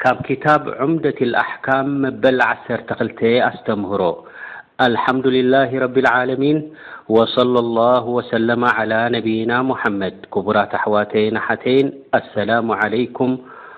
ካብ ክታብ ዑምደት ኣልኣሕካም መበል ዓሰርተ ክልተ ኣስተምህሮ ኣልሓምዱሊላህ ረቢል ዓለሚን ወሰለ ላሁ ወሰለማ ዓላ ነቢይና ሙሓመድ ክቡራት ኣሕዋተይን ኣሓተይን ኣሰላሙ ዓለይኩም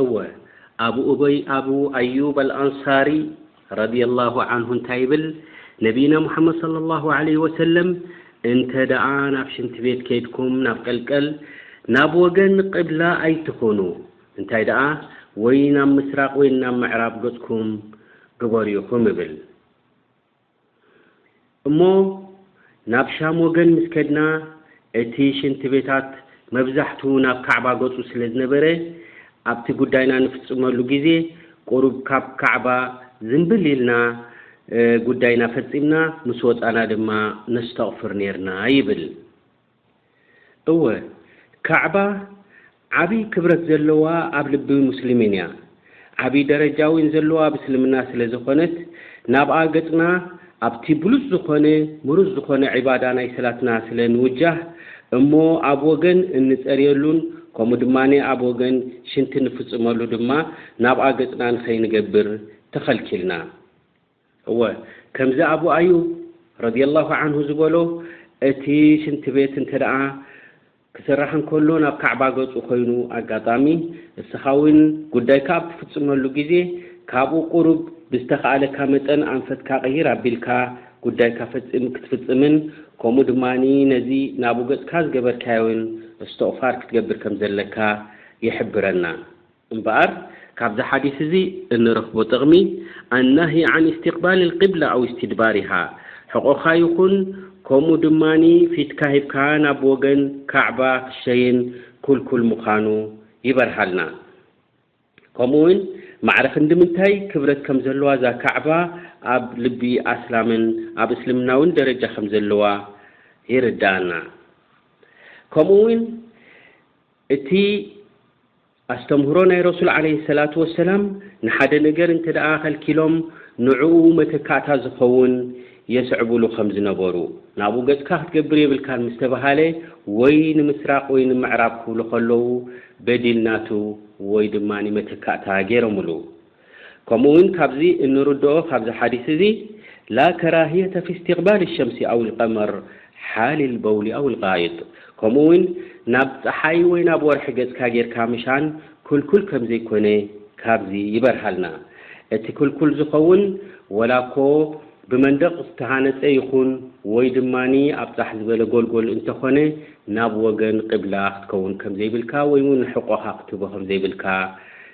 እወ ኣቡ ኡበይ ኣቡ ኣዩብ ኣልኣንሳሪ ረዲየላሁ ዓንሁ እንታይ ይብል ነቢይና ሙሓመድ ሰለላሁ ዓለይሂ ወሰለም እንተ ደኣ ናብ ሽንቲ ቤት ከይድኩም ናብ ቀልቀል ናብ ወገን ቂብላ ኣይትኹኑ እንታይ ደኣ ወይ ናብ ምስራቕ ወይ ናብ ምዕራብ ገጽኩም ግበሩ ኢኹም ይብል። እሞ ናብ ሻም ወገን ምስ ከድና፣ እቲ ሽንቲ ቤታት መብዛሕትኡ ናብ ካዕባ ገጹ ስለ ዝነበረ፣ ኣብቲ ጉዳይና ንፍጽመሉ ግዜ ቁሩብ ካብ ካዕባ ዝንብል ኢልና ጉዳይና ፈጺምና ምስ ወጻና ድማ ነስተቕፍር ኔርና ይብል። እወ ካዕባ ዓቢ ክብረት ዘለዋ ኣብ ልቢ ሙስሊሚን እያ ዓቢ ደረጃ ዊን ዘለዋ ኣብ እስልምና ስለ ዘኮነት ናብኣ ገጽና ኣብቲ ብሉጽ ዝኮነ ምሩጽ ዝኮነ ዒባዳ ናይ ሰላትና ስለ ንውጃህ እሞ ኣብ ወገን እንጸርየሉን ከምኡ ድማ ኣብ ወገን ሽንቲ ንፍጽመሉ ድማ ናብኣ ገጽና ንከይንገብር ተከልኪልና እወ ከምዚ ኣቡ ኣዩብ ረዲየላሁ ዓንሁ ዝበሎ እቲ ሽንቲ ቤት እንተደኣ ክስራሕ እንከሎ ናብ ካዕባ ገጹ ኮይኑ ኣጋጣሚ እስኻ ውን ጉዳይካ ኣብ ትፍጽመሉ ግዜ ካብኡ ቁሩብ ብዝተኻኣለካ መጠን ኣንፈትካ ቅይር ኣቢልካ ጉዳይካ ፈጺም ክትፍጽምን ከምኡ ድማ ነዚ ናብኡ ገጽካ ዝገበርካዮን እስትቕፋር ክትገብር ከምዘለካ ይሕብረና። እምበኣር ካብዚ ሓዲስ እዚ እንረኽቦ ጥቕሚ፣ ኣናህይ ዓን ኢስቲቕባል ኣልቂብላ ኣው ኢስቲድባሪሃ፣ ሕቖኻ ይኹን ከምኡ ድማ ፊትካ ሂብካ ናብ ወገን ካዕባ ክትሸይን ክልኩል ምዃኑ ይበርሃልና። ከምኡ ውን ማዕረ ክንዲ ምንታይ ክብረት ከም ዘለዋ እዛ ካዕባ ኣብ ልቢ ኣስላምን ኣብ እስልምና ውን ደረጃ ከም ዘለዋ የረድኣና። ከምኡ ውን እቲ ኣስተምህሮ ናይ ረሱል ዓለይሂ ሰላቱ ወሰላም ንሓደ ነገር እንተድኣ ከልኪሎም ንዕኡ መተካእታ ዝኸውን የስዕብሉ ከም ዝነበሩ፣ ናብኡ ገጽካ ክትገብር የብልካን ምስ ተባሃለ ወይ ንምስራቕ ወይ ንምዕራብ ክብሉ ከለዉ በዲል ናቱ ወይ ድማ መተካእታ ገይሮምሉ። ከምኡ ውን ካብዚ እንርድኦ ካብዚ ሓዲስ እዚ ላ ከራህየተ ፊ እስቲቅባል ሸምሲ ኣው ልቀመር ሓል ልበውሊ ኣው ልጋኢጥ ከምኡ ውን ናብ ጸሓይ ወይ ናብ ወርሒ ገጽካ ጌርካ ምሻን ክልኩል ከምዘይኮነ ካብዚ ይበርሃልና እቲ ክልኩል ዝኸውን ወላኮ ብመንደቅ ዝተሃነጸ ይኹን ወይ ድማ ኣብ ጻሕ ዝበለ ጎልጎል እንተኾነ ናብ ወገን ቂብላ ክትከውን ከምዘይብልካ ወይ ውን ሕቆኻ ክትህቦ ከምዘይብልካ